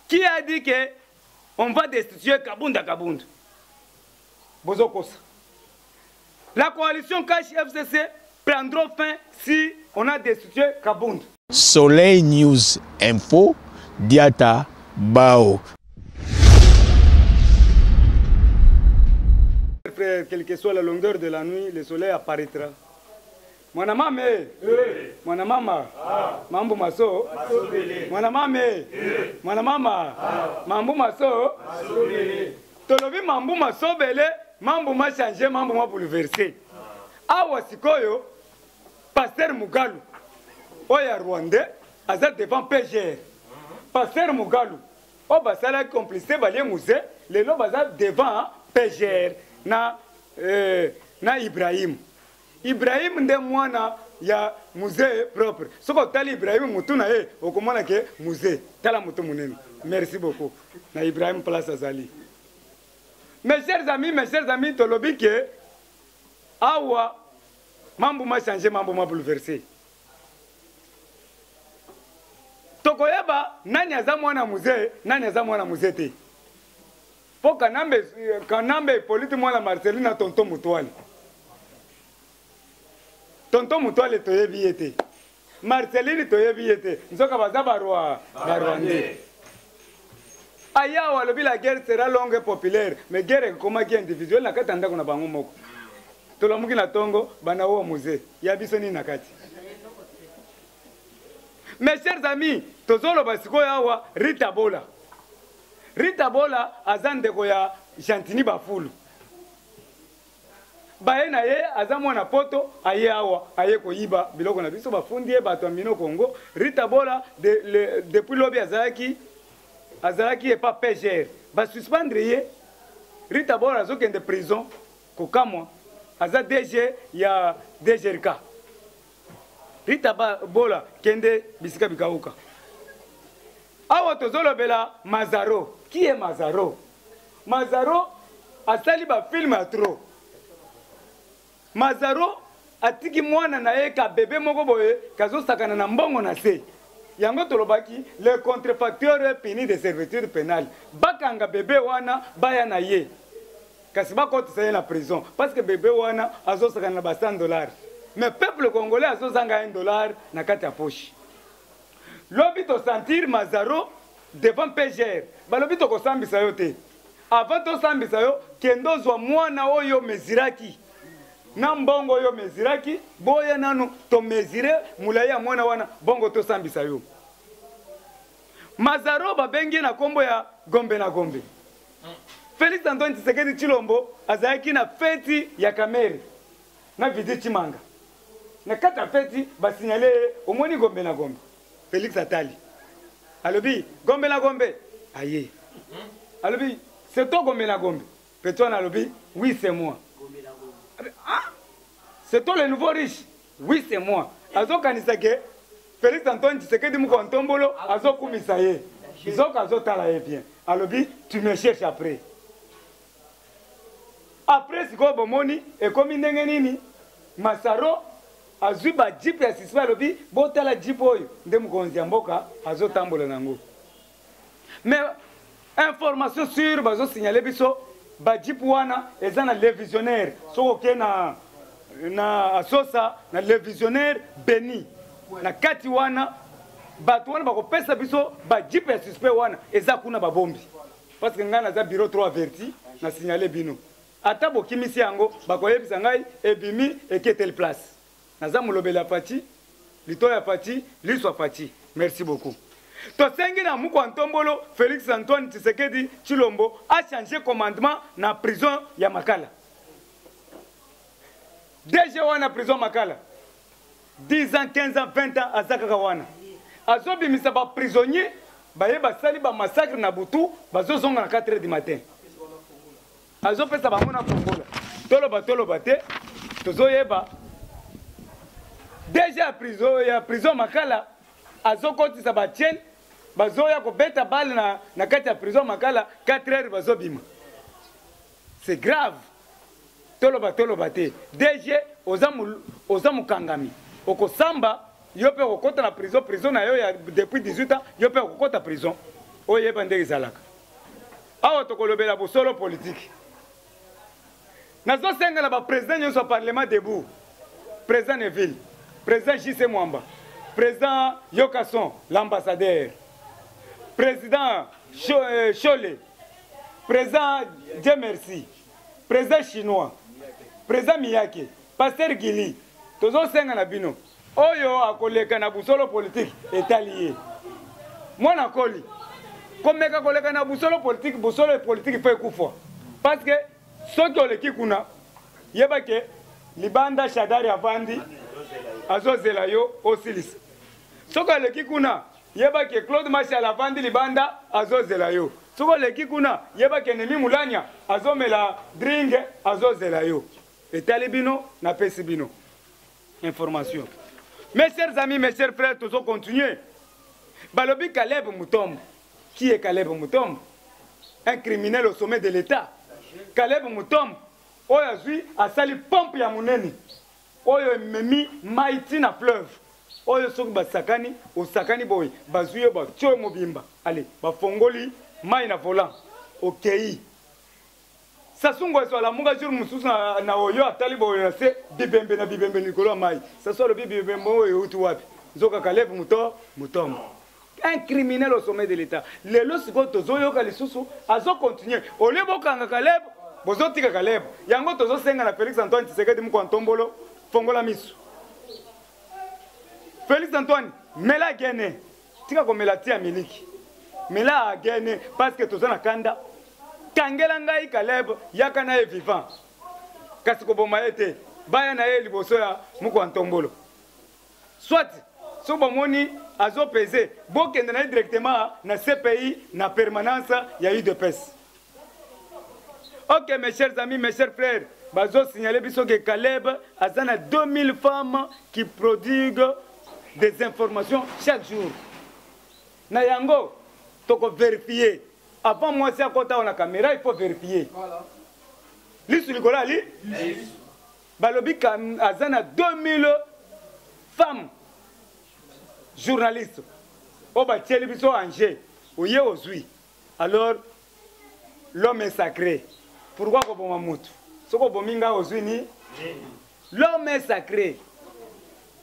qui a dit que on va destituer kabunda kabunda bozokosa la coalition cash fcc prendront fin si on a destitué kabunda soleil news info diata bao quelle que soit la longueur de la nuit le soleil apparaîtra mwana mame eh. mwana mama ah. mambu maso mwana mame eh. mwana mama ah. mambu maso tolobi mambu masobele mambu machange mambu mabouleverse ah. awa sikoyo paster mugalu oyo ya rwandais aza devant pgr paster mugalu oyo basalaki complicité balie muse lelo baza devant pgr na, euh, na ibrahim Ibrahim nde mwana ya musee propre. Soki otali Ibrahim mutu na ye okomona ke musee. Tala mutu munene. Merci beaucoup na Ibrahim place azali. Mes chers amis, mes chers amis, tolobi ke awa mambo ma changer, mambo ma bouleverser. Tokoyeba nani aza mwana musee, nani aza mwana musee te. Po kanambe kanambe ipolite mwana marcelina na tonton mutuale tonton mutuale toyebi ye te marcelini toyebi ye te nzoka baza barwa barwande ayawa alobi la guerre sera longue populaire mais guerre ekomaki individuel na kati ya ndako na bango moko tolamuki na tongo bana oyo muze ya biso nini na kati mes chers amis tozoloba sikoyo awa rita bola rita bola aza ndeko ya gentini bafulu baye na ye aza mwana poto aye awa aye koyiba biloko na biso bafundi ye bato ya mino congo rita bola de, le, depuis lobi azalaki azalaki epa pgr basuspendre ye rita bola azokende prison kokamwa aza dg ya dgrk rita bola kende bisika bikauka awa tozolobela mazaro qui est mazaro mazaro asali bafilme ya trop mazaro atiki mwana na ye ka bebe moko boye kazosakana na mbongo na se yango tolobaki le contrefacteur puni de servitude pénale bakanga bebe wana baya na ye kasi bakotisa ye na prison parce que bebe wana azosakana na ba 100 dollars mais peuple congolais azozanga 1 dollar na kati ya poche lobi tosentir mazaro devant pgr balobi tokosambisa yo te avant tosambisa yo kende ozwa mwana oyo omeziraki na mbongo oyo omeziraki boya nanu tomezire molai ya mwana wana bongo tosambisa yo mazaro babengi ye na nkombo ya gombe na gombe Felix Antoine Tshisekedi Tshilombo azalaki na feti ya Kamere na Vidi Tshimanga. Na kati ya feti basignale ye omoni gombe na gombe. Felix atali alobi gombe na gombe aye alobi c'est toi gombe na gombe Petwana alobi oui c'est moi. Ah, c'est toi le nouveau riche Oui c'est moi. Azo kanisa ke Felix Antoine Tshisekedi moko ntombolo azo kumisa ye. Zoka azo tala ye bien. Alobi tu me cherches après. Après sikoyo bomoni ekomi ndenge nini? Masaro azwi ba jeep ya sisma alobi botala jeep oyo nde mokonzi ya mboka azotambola na yango. mais information sur bazo signaler biso ba jeep wana eza na le visionnaire soki oke na na asosa na le visionnaire beni na kati wana bato wana bakopesa biso ba jeep ya suspect wana eza kuna babombi parce que ngai naza bureau 3 averti na signale bino ata bokimisi yango bakoyebisa ngai ebimi eketeli place naza molobeli ya fati lito ya fati liso ya fati merci beaucoup tosengi na mukwa ntombolo félix antoine tshisekedi tshilombo achange commandement na prison ya makala dg wana prison makala 10 ans 15 ans 20 ans aza kaka wana azobimisa baprisonnier baye basali bamassacre na butu bazozonga na 4 heures du matin azopesa bango na fongola toloba toloba te tozoyeba deja ya prison, ya prison makala azokotisa bachene bazoya kobeta bale na, na kati ya prison makala 4 heures bazobima c'est grave toloba toloba te dg oza, mul, oza mokangami okosamba yo mpe okokota na prison prison na yo ya depuis 18 ans yo mpe okokota prison oyeba ndenge ezalaka awa tokolobela bosolo politiki nazosenga na baprésident nyonso ya parlement debout président neville président jc mwamba président yokason l'ambassadeur président shole euh, président dieu merci president chinois president miyake paster gili tozosenga na bino oyo akoleka na busolo politike etali ye mwana koli komeka koleka na busolo politike busolo politike fo ekufwa parce que soki oleki kuna yeba ke libanda shadari avandi azozela yo osilisa soki aleki kuna yeba ke claude masiala avandi libanda azozela yo soki oleki kuna yeba ke nemi mulanya azomela dringe azozela yo etali bino napesi bino information mes chers amis mes chers frères tozo continuer balobi caleb mutombo qui est caleb mutombo un criminel au sommet de l'état caleb mutombo oyo azwi asali pompe ya monene oyo ememi mai ti na fleuve oyo soki basakani osakani boye bazwi yo batyo yo mobimba ale bafongoli mai na volant okei sasu ngweso alamuka jour mosusu na, na oyo atali boye na se bibembe na bibembe likolo ya mai sasu alobi bibembe oyo euti wapi nzoka kaleve moto motombo un criminel au sommet de l'état lelo sikoyo tozoyoka lisusu azo continue olie bokanga kaleb bozotika kaleb yango tozosenga na félix antoine tisekedi moko antombolo fongola misu félix antoine mela gene tika komela ti ya miliki mela gene parce que toza na kanda kangela ngai kaleb yaka na ye vivant kasi koboma ye te baya na ye liboso ya moko antombolo soit soki bomoni azo pese bokende na ye directement na cpi na permanence ya udps ok mes chers amis mes chers frères bazo signale biso ke caleb aza na 2000 femmes qui prodigue des informations chaque jour na yango toko verifie avant mwasi akota awa na kamera il faut verifie lisu likolo ali balobi ka aza na 2000 femme journaliste oyo batieli biso ange oye ozwi alors l'homme est sacré pourquoi koboma motu soki obomi ngai ozwi ni l'homme est sacré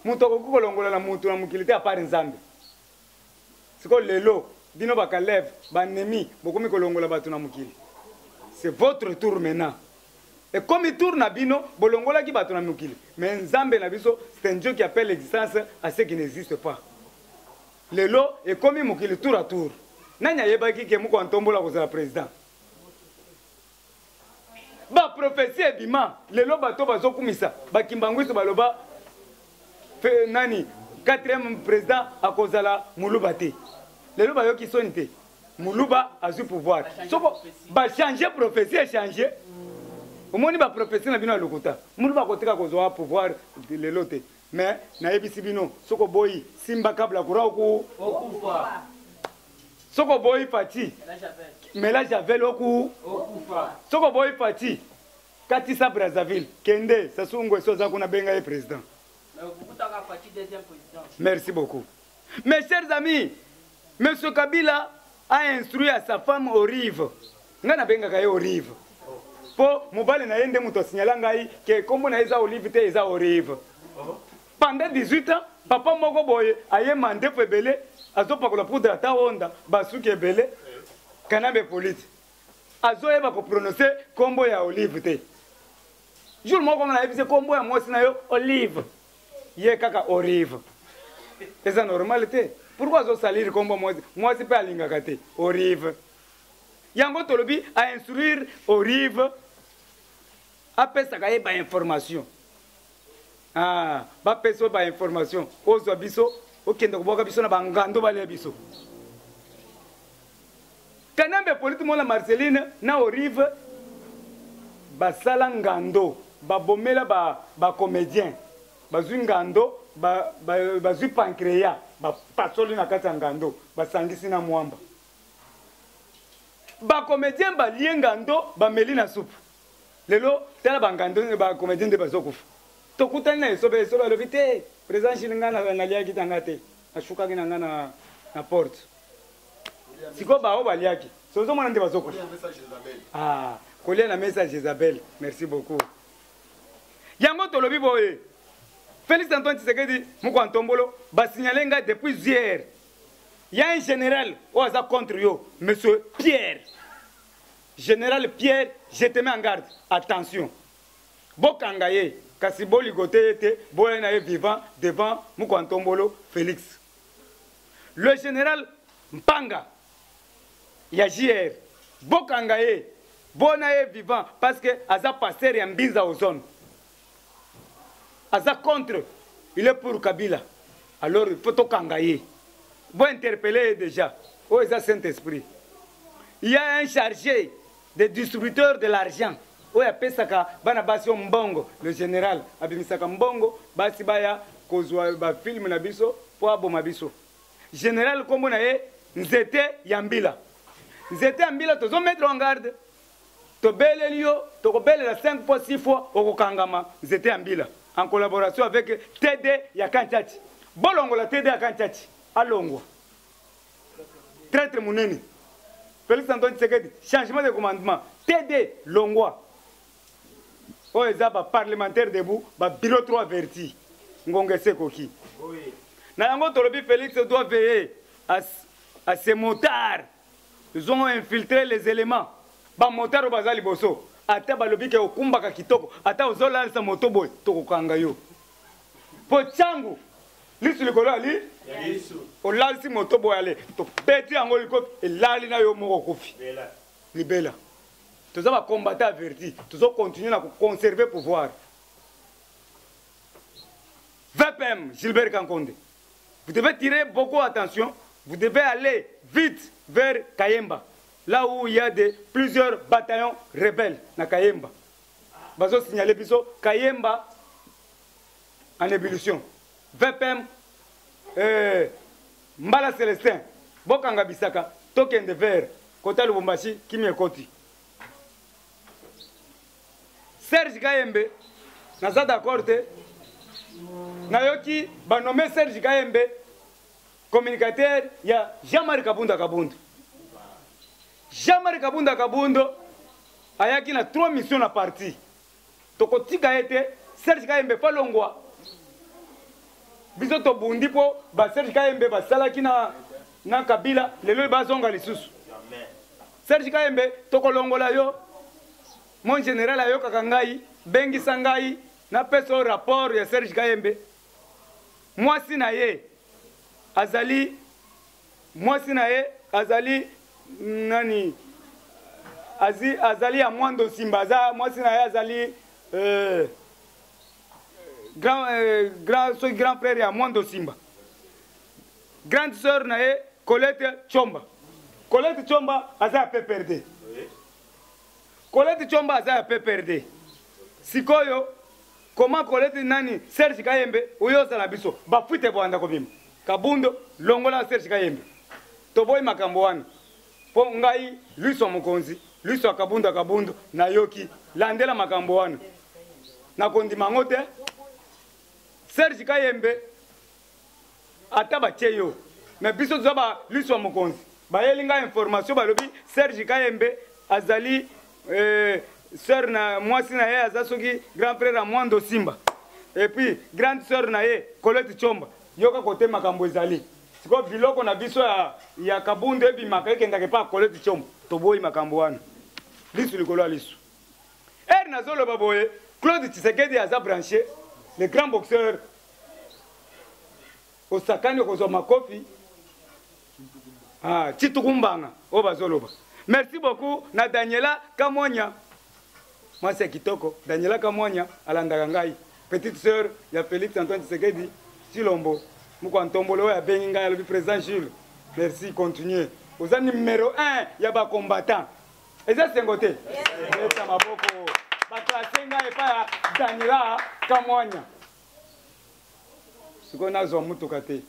moto akoki kolongola na motu na mokili te apart nzambe siko lelo bino bakalev banemi bokomi kolongola bato na mokili c'est votre tour maintenant ekomi tour na bino bolongolaki bato na mokili mais nzambe na biso c'est un dieu qui appelle l'existence à ce qui n'existe pas lelo ekomi mokili tour à tour nani ayebaki ke moko antombola kozala président ba prophetie ebima lelo bato bazokumisa bakimbanguiso baloba fe, nani quatrième président akozala muluba te lelo bayoki soni te muluba azwi pouvoir soko bachange prophetie echange omoni baprophetie na bino ya lokuta muluba akotika kozwa pouvoir lelo te Mais nayebisi bino soko boyi simba kabla kura oku okufa. Soko boyi pati mela javel oku okufa. Soko boyi pati katisa Brazzaville kende Sassou Nguesso aza kuna benga ye president. Merci beaucoup. Mes chers amis, Monsieur Kabila a instruit à sa femme Olive. Nga na bengaka ye Olive. Po mobali na ye nde moto asignala ngai ke kombo na ye eza Olive te eza Olive. Pendant 18 ans, papa moko boye aye mandefu ebele azopakola poudre ata onda basuki ebele kanambe polite azoyeba koprononce kombo ya olive te jour moko nga nayebisi kombo ya mwasi na yo olive ye kaka orive eza normal te pourkui azosalire nkombo mwasi mwasi mpe alingaka te orive yango tolobi ainstruire orive apesaka ye bainformation ah, bapesa yo bainformation ozwa biso okende kobwaka biso na bangando balia biso Kanambe polite mona Marceline na Olive basala ngando babomela ba, ba comedien bazwi ngando bazwi ba, ba pancreya bapasoli na kati ya ngando basangisi na mwamba bacomédien balie ngando bameli na supu lelo tala bangando bacomédien nde bazokufa tokutani na esobe esobe alobi te président shili ngai naliaki tanga te nasukaki na ngai na porte sikoyo baoyo baliaki sozomona nde bazokufa ah, kolia na mesa jezabel merci beaucoup yango tolobi boye félix antoine tisekedi mokwa ntombolo basignale ngai depuis hier ya un général oyo aza contre yo monsieur pierre général pierre je te mets en garde attention bokanga ye kasi boligote ye te boya na ye vivant devant mokwa ntombolo félix le general mpanga ya jr bokanga ye bona ye vivant parce que aza pasteur ya mbinza ozone aza contre il est pour kabila alors il faut tokanga ye bointerpele ye déjà oyo eza saint esprit il y a un chargé de distributeur de l'argent oyo apesaka bana basi oyo mbongo le général abimisaka mbongo basi baya kozwa bafilme na biso mpo aboma biso général nkombo na ye nzete ya mbila nzete ya mbila tozo mettre en garde tobeleli yo tokobelela 5 fois 6 fois okokangama nzete ya mbila en collaboration avec td ya kantiati bolongola td ya kantiati alongwa traitre munene felix antoine tshisekedi changement de commandement td longwa oyo eza baparlementaire debout babilo 3 verti ngonga esi ekoki na yango tolobi felix doit veiller à, à ses motards ils ont infiltré les éléments bamotard oyo baza liboso ata balobi ke okumbaka kitoko ata ozolalisa moto boye tokokanga yo mpo ntango lisu likolo ya li olalisi moto boye ale tobeti yango likofi elali na yo moko kofi libela toza bacombata ya verdi tozocontinue na koconserve pouvoir vpm gilbert kankonde vous devez tirer beaucoup attention vous devez aller vite vers kayemba là où il y a de plusieurs bataillons rebelles na kayemba bazo signaler biso kayemba en ébullition vpm eh, mbala celestin bokanga bisaka tokende vere kota lubumbashi kimia ekoti serge kayembe naza d'accord te nayoki banome serge kayembe communicateur ya jean marie kabunda kabunda Jean-Marie Kabunda Kabundo ayaki na trois missions na parti. Tokotika ye te, Serge Kayembe falongwa. Biso tobundi mpo ba Serge Kayembe basalaki na na Kabila lelo bazonga lisusu. Serge Kayembe tokolongola yo. Mon général ayokaka ngai, bengisa ngai na peso rapport ya Serge Kayembe. Mwasi na ye azali Mwasi na ye azali nani? Azi, azali ya Mwando Nsimba, aza mwasi na ye azali euh, grand, euh, grand, soki grand frère ya Mwando Nsimba. Grande sœur na ye Colette Chomba. Colette Chomba aza ya PPRD. Colette Chomba aza ya PPRD. Sikoyo Comment Colette nani Serge Kayembe oyo ozala biso ba fuite boanda kobima Kabundo longola Serge Kayembe toboyi makambo wana mpo ngai luiswa mokonzi luiswa Kabundo Kabundo nayoki landela makambo wana nakondima yango te Serge Kayembe ata batie yo me biso toza ba liso ya mokonzi bayeli ngai information balobi serge kayembe azali eh, sœur na mwasi na ye aza soki grand frère ya mwando simba epuis grande sœur na ye colete chomba yoka kote makambo ezali sikoyo biloko na biso ya, ya kabundu ebimaka ekendaka epa colete chomba toboyi makambo wana lisu likolo ya lisu Heure nazo loba boye Claude Tshisekedi aza branché le grand boxeur osakani okozwa makofi ah, chitukumbanga oyo bazoloba merci beaucoup na daniela kamwanya mwasi ya kitoko daniela kamwanya alandaka ngai petite sœur ya félix antoine tshisekedi chilombo moko ya ntombolo oyo abengi ngai alobi président jules merci continue oza numero 1 ya bacombattant eza esengo te beta maboko baklase ngai epai ya daniela kamwanya sikoyo nazwa motuka te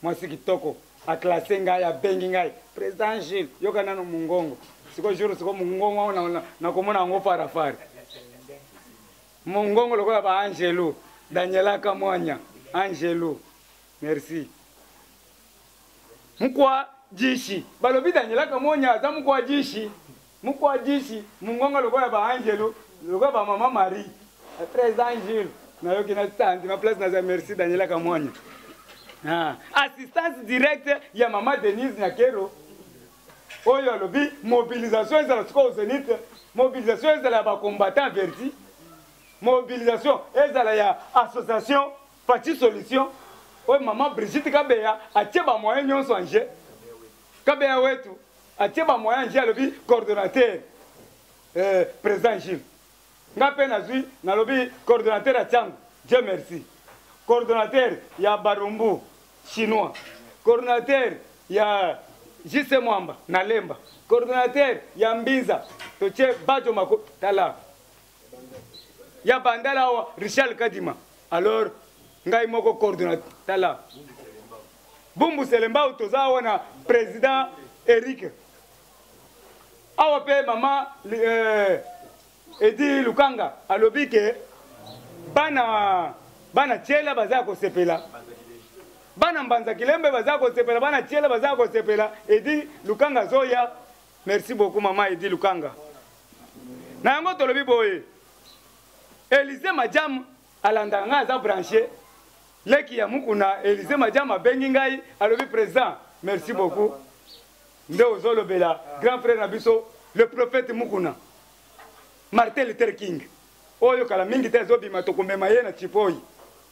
mwasi kitoko aklase ngai abengi ngai président jules yoka nano mongongo sikoyo jour sikoyo mongongo yango nakomona yango farafari mongongo lokola baangelu daniela kamwanya angelu merci mukwa jishi balobi daniela kamonya aza mukwa jishi mukwa jishi mungonga lokola ba angelu lokola ba mama marie très angel nayoki na tandi ma place naza merci daniela kamonya ah. assistance directe ya mama denise nyakero oyo alobi mobilisation ezala sikoyo zenith mobilisation ezala ya bacombattant verti mobilisation ezala ya association Fatshi solution oyo maman Brigitte Kabeya atie ba moyen nyonso en jeu. Kabeya wetu atie ba moyen en jeu alobi coordonnateur euh, président Gilles. Nga pe nazui nalobi coordonnateur ya Tiango. Dieu merci. Coordonnateur ya Barumbu chinois. Coordonnateur ya JC Mwamba na Lemba. Coordonnateur ya Mbinza totie Bajo Mako tala ya bandala awa richard kadima alors ngai moko coordonnateur tala bumbu selembao toza awa na président eric awa mpe mama euh, edi lukanga alobi ke bana bana tiela baza ya kosepela bana mbanza kilembe baza kosepela bana tiela baza kosepela edi lukanga azoya Merci beaucoup maman Edi Lukanga. Na yango tolobi boye. Elise Majam alandaka ngai aza branche leki ya mukuna Elise Majam abengi ngai alobi président merci beaucoup nde ozolobela grand frère na biso le prophète mukuna Martin Luther King oyo kala mingi te azobima tokomema ye na Tripoli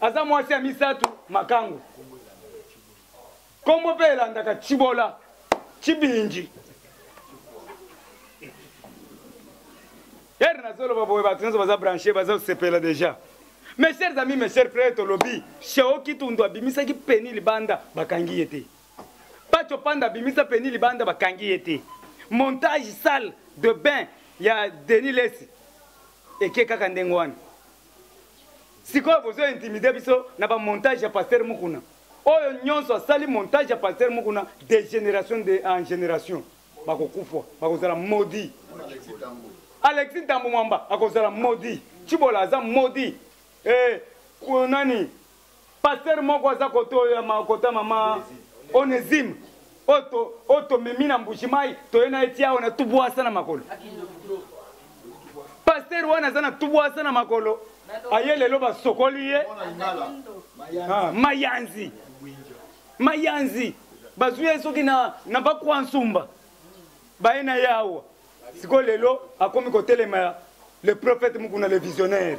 aza mwasi ya misato makango nkombo mpe elandaka cibola cibinji ere nazoloba boye bato nyonso baza branche baza kosepela déjà mes chers amis mes chers frères tolobi sheo kitundu abimisaki peni libanda bakangi ye te pacho panda abimisa peni libanda bakangi ye te montage salle de bain ya denis lesi eke kaka ndenge wana sikoyo bozo intimide biso na ba montage ya pasteur mukuna oyo nyonso asali montage ya pasteur mukuna de génération de en génération bakokufa bakozala maudit alexi ntambo mwamba akozala maudit cibola aza maudit eh, nani Pasteur moko aza kote oyo ya makota mama Onesime oyo tomemi na mbuji mai toye na eti awa na tubwasa na makolo pasteur wana aza na tubwasa na makolo aye lelo basokoli ye ah, mayanzi mayanzi bazwi ye soki na, na bakwa nsumba baye na ye awa sikoyo lelo akomi kotelema le prophète mukuna le visionnaire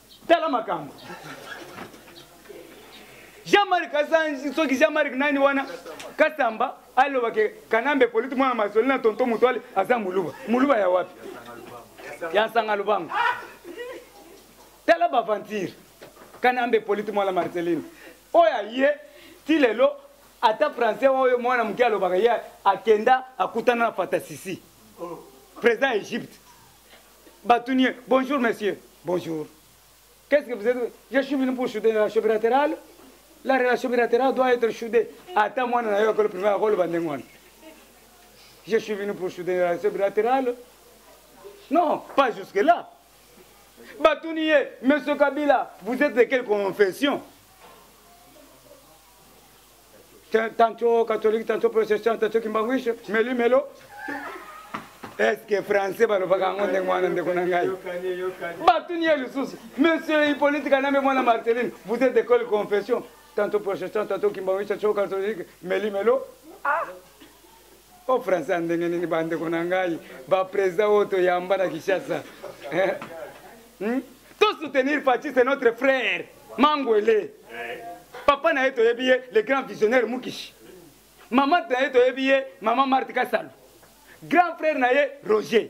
tala makambo jean-marc azangi soki jean-marc nani wana kasamba aloba ke kanambe politi mwana mazoli na tonto motoale aza moluba moluba ya wapi ya nsanga lubango tala baventure kanambe politi mwana marceline oyo aye ti lelo ata français oyo mwana moke alobaka ye akenda akutana na fatasisi président ya egypte batuni ye bonjour monsieur bonjour qu'est ce que vous êtes je suis venu pour souder la relation bilatérale la relation bilatérale doit être soudée ata mwana na yo akolo primaire akoloba ndenge wana je suis venu pour souder la relation bilatérale non pas jusque là batuni ye monsieur kabila vous êtes de quelle confession tantôt catholique tantôt protestant tantôt kimbanguishe meli melo eske français balobaka yango ndenge wana ndeko na ngai batuni ye lisusu monsieur hippolite kanambe mwana marceline vous êtes de quelle confession tantôt protestant tantôt kimbanguishe tantôt catholique meli melo ah. o france ya ndenge nini bandeko na ngai bapresident oyo toyamba na kinshasa eh? hmm? to soutenir faci c'est notre frère mangwele papa na ye toyebi ye le grand visionnaire mukishi mama na ye toyebi ye mama marte kasalo grand frère na ye roger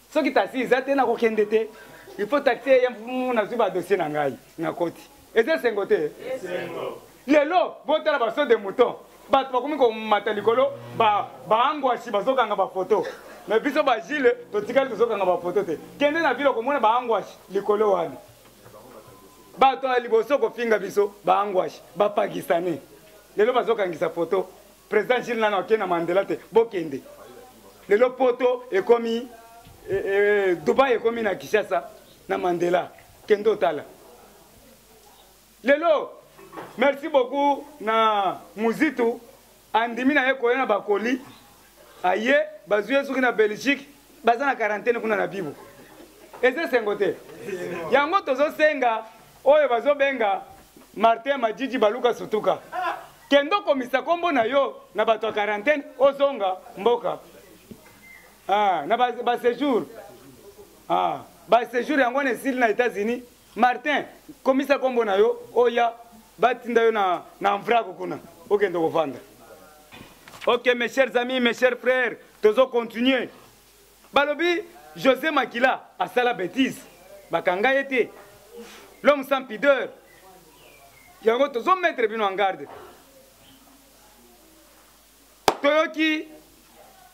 soki taxi eza te nakokende te il faut taxi eya nazwi badossier na ngai nakoti eza esengo te lelo botala baso de mouton bato bakomi komata likolo baangwasi bazokanga bafoto me biso bagile totikali tozokanga bafoto te kende na vile okomona baangwasi likolo wana bato ya liboso kofinga biso baangwasi bapakistanais lelo bazokangisa foto President Gilles nano akenda Mandela te bokende lelo poto ekomi e, e, Dubai ekomi na Kinshasa na Mandela kende otala lelo merci beaucoup na muzitu andimi na ye koya na bakoli aye bazwi ye soki na belgique baza na quarantaine kuna na bibo eza esengo te yango tozosenga oyo bazobenga martin majiji baluka sutuka kende okomisa kombo na yo na bato ya quarantaine ozonga mboka ah, na basejour ba ah, basejour yango wana esili na états-unis martin komisa kombo na yo oya batinda yo na, na mvraku kuna okende kovanda ok mes chers amis mes chers frères tozo continuer balobi josé makila asala betise bakanga ye te l'homme sans pideur yango tozometre bino en garde toyoki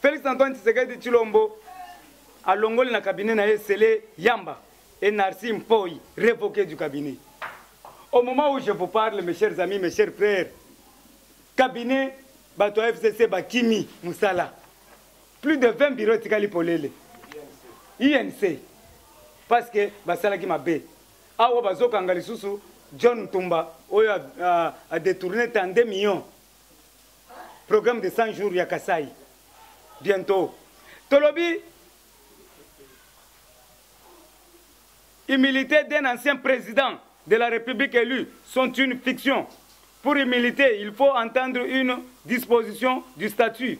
félix antoine tshisekedi tshilombo alongoli na cabinet na ye sele yamba et narci mpoi révoqué du cabinet au moment où je vous parle mes chers amis mes chers frères cabinet bato ya fcc bakimi mosala plus de 20 bureau etikali polele inc parce que basalaki mabe awa bazokanga lisusu john ntumba oyo adetourne 32 millions programme de 100 jours ya kasai bientôt tolobi humilité d'un ancien président de la république élu sont une fiction pour humilité il faut entendre une disposition du statut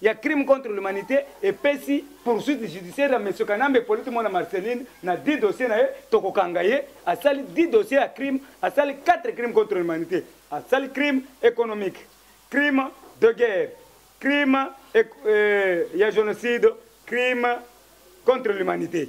ya crime contre l'humanite epesi poursuite judiciaire ya monsieur Kanambe Polite mwana Marceline na 10 dossier na ye tokokanga ye asali 10 dossier ya crime asali 4 crime contre l'humanité asali crime économique crime de guerre crime euh, ya génocide crime contre l'humanité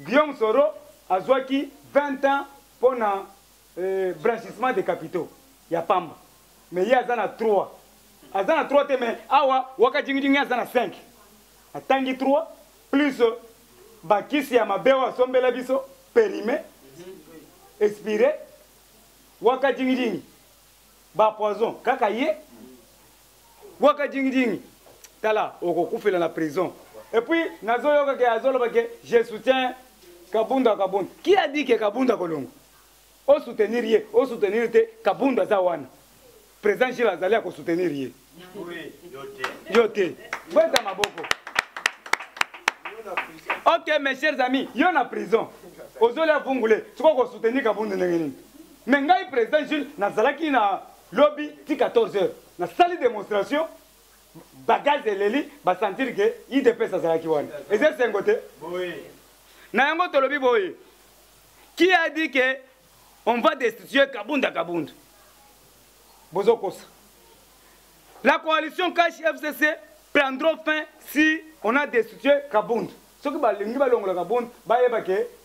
Guillaume Soro azwaki 20 ans mpo na euh, blanchissement de capitaux ya pamba mais ye aza na 3 aza na 3 te mais awa waka jingijingi aza na 5 atangi 3 plus euh, bakisi ya mabe oyo asombela biso perime expire waka jingijingi bapoison kaka ye Waka jingi jingi. Tala okokufela na prison. Et puis nazoyoka ke azoloba ke je soutiens Kabunda Kabunda. Qui a dit que Kabunda kolongo? O soutenir ye, o soutenir te Kabunda aza wana. Président Gilles azali ako soutenir ye. Oui, yo te. Yo te. Bweta maboko. Ok mes chers amis, yo na prison. Ozoli avungule, sikoyo ko soutenir Kabunda ndenge nini? Mais ngai président Gilles nazalaki na lobi ti 14 heures nasali demonstration bagage eleli basentir ke idps azalaki wana eza esengo te na yango tolobi boye qui a dit que on va destituer kabunda kabunda bozokosa la coalition cash fcc prendront fin si on a destitué kabund soki balingi balongola kabund bayeba ke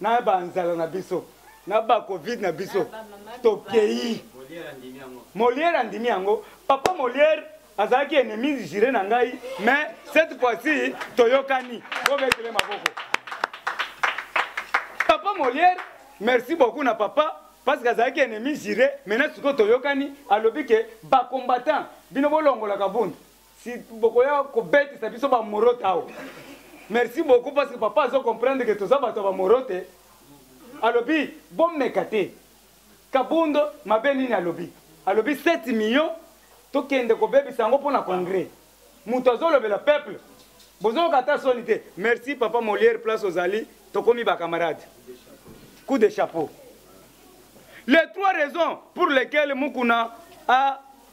na ba nzala na biso na ba covid na biso tokeyi moliere andimi yango papa moliere azalaki ennemi jure na ngai mais cette fois-ci toyokani bobetele maboko papa moliere merci beaucoup na papa parce que azalaki ennemi jure maintenant sikoyo toyokani alobi ke bacombattant bino bolongolaka bundu si bokoya kobetisa biso bamorote awa merci beaucoup parce que papa azo comprendre ke toza bato ya bamorote alobi bomeka te kabundo mabe nini alobi alobi 7 million tokende kobebisa yango mpo na congrès moto azolobela peuple bozoyoka ata soni te merci papa molière place ozali tokomi bacamarade coup de chapeau les trois raisons pour lesquelles mukuna a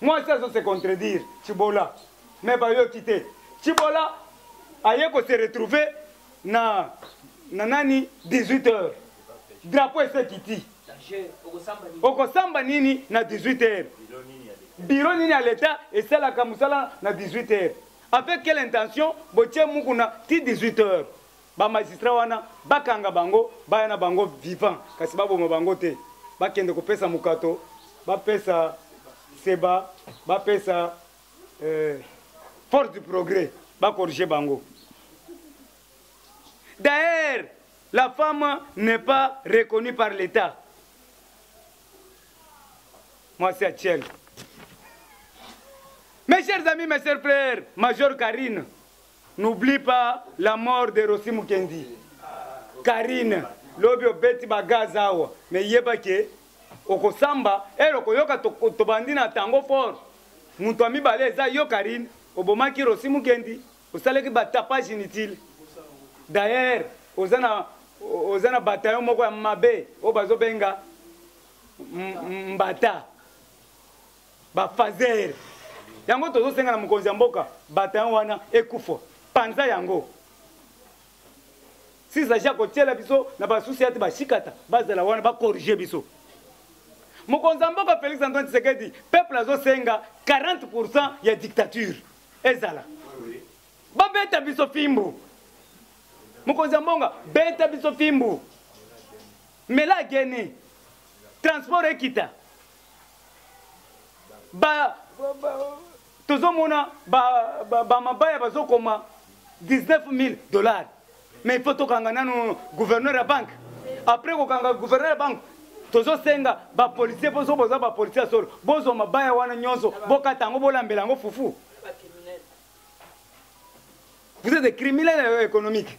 Mwasi azo se contredire Tshibola mais bayoki te. Tshibola aye ko se retrouver na na nani 18 heures drapeau ese kiti okosamba nini na 18 heures biro nini ya leta esalaka mosala na 18 heures avec quelle intention botie mukuna ti 18 heures Ba magistrat wana bakanga bango baya na bango vivant kasi baboma bango te bakende kopesa mokato bapesa seba bapesa euh, force du progrès bakorige bango d'ailleurs la femme n'est pas reconnue par l'état mwasi ya tiel mes chers amis mes chers frères major karine N'oublie pas la mort de Rossi Mukendi. Karine, lobi obeti ba gaz awa, mais yeba ke okosamba ero koyoka tobandi na tango fort. Mutu ya mibale eza yo Karine, obomaki Rossi Mukendi, osalaki ba tapage inutile. D'ailleurs, oza na oza na bataillon moko ya mabe oyo bazobenga mbata bafazer yango tozosenga na mokonzi ya mboka batayon wana ekufa panza yango sisaji akotiela biso na basusi yati bashikata bazala wana bakorige biso mokonzi ya mboka félix antoine tshisekedi peuple azosenga 40 pourcent ya dictature ezala babeta biso fimbu mokonzi ya mbonga beta biso fimbu mela geni transport ekita ba tozomona bamabaya bazokoma 19 000 dollars mais il faut tokanga nanu gouverneur ya banque après kokanga gouverneur ya banque tozosenga bapolisier mpo soki boza bapolisier ya solo bozwa mabaya wana nyonso bokata yango bolambela yango fufu vous êtes des criminels euh, économiques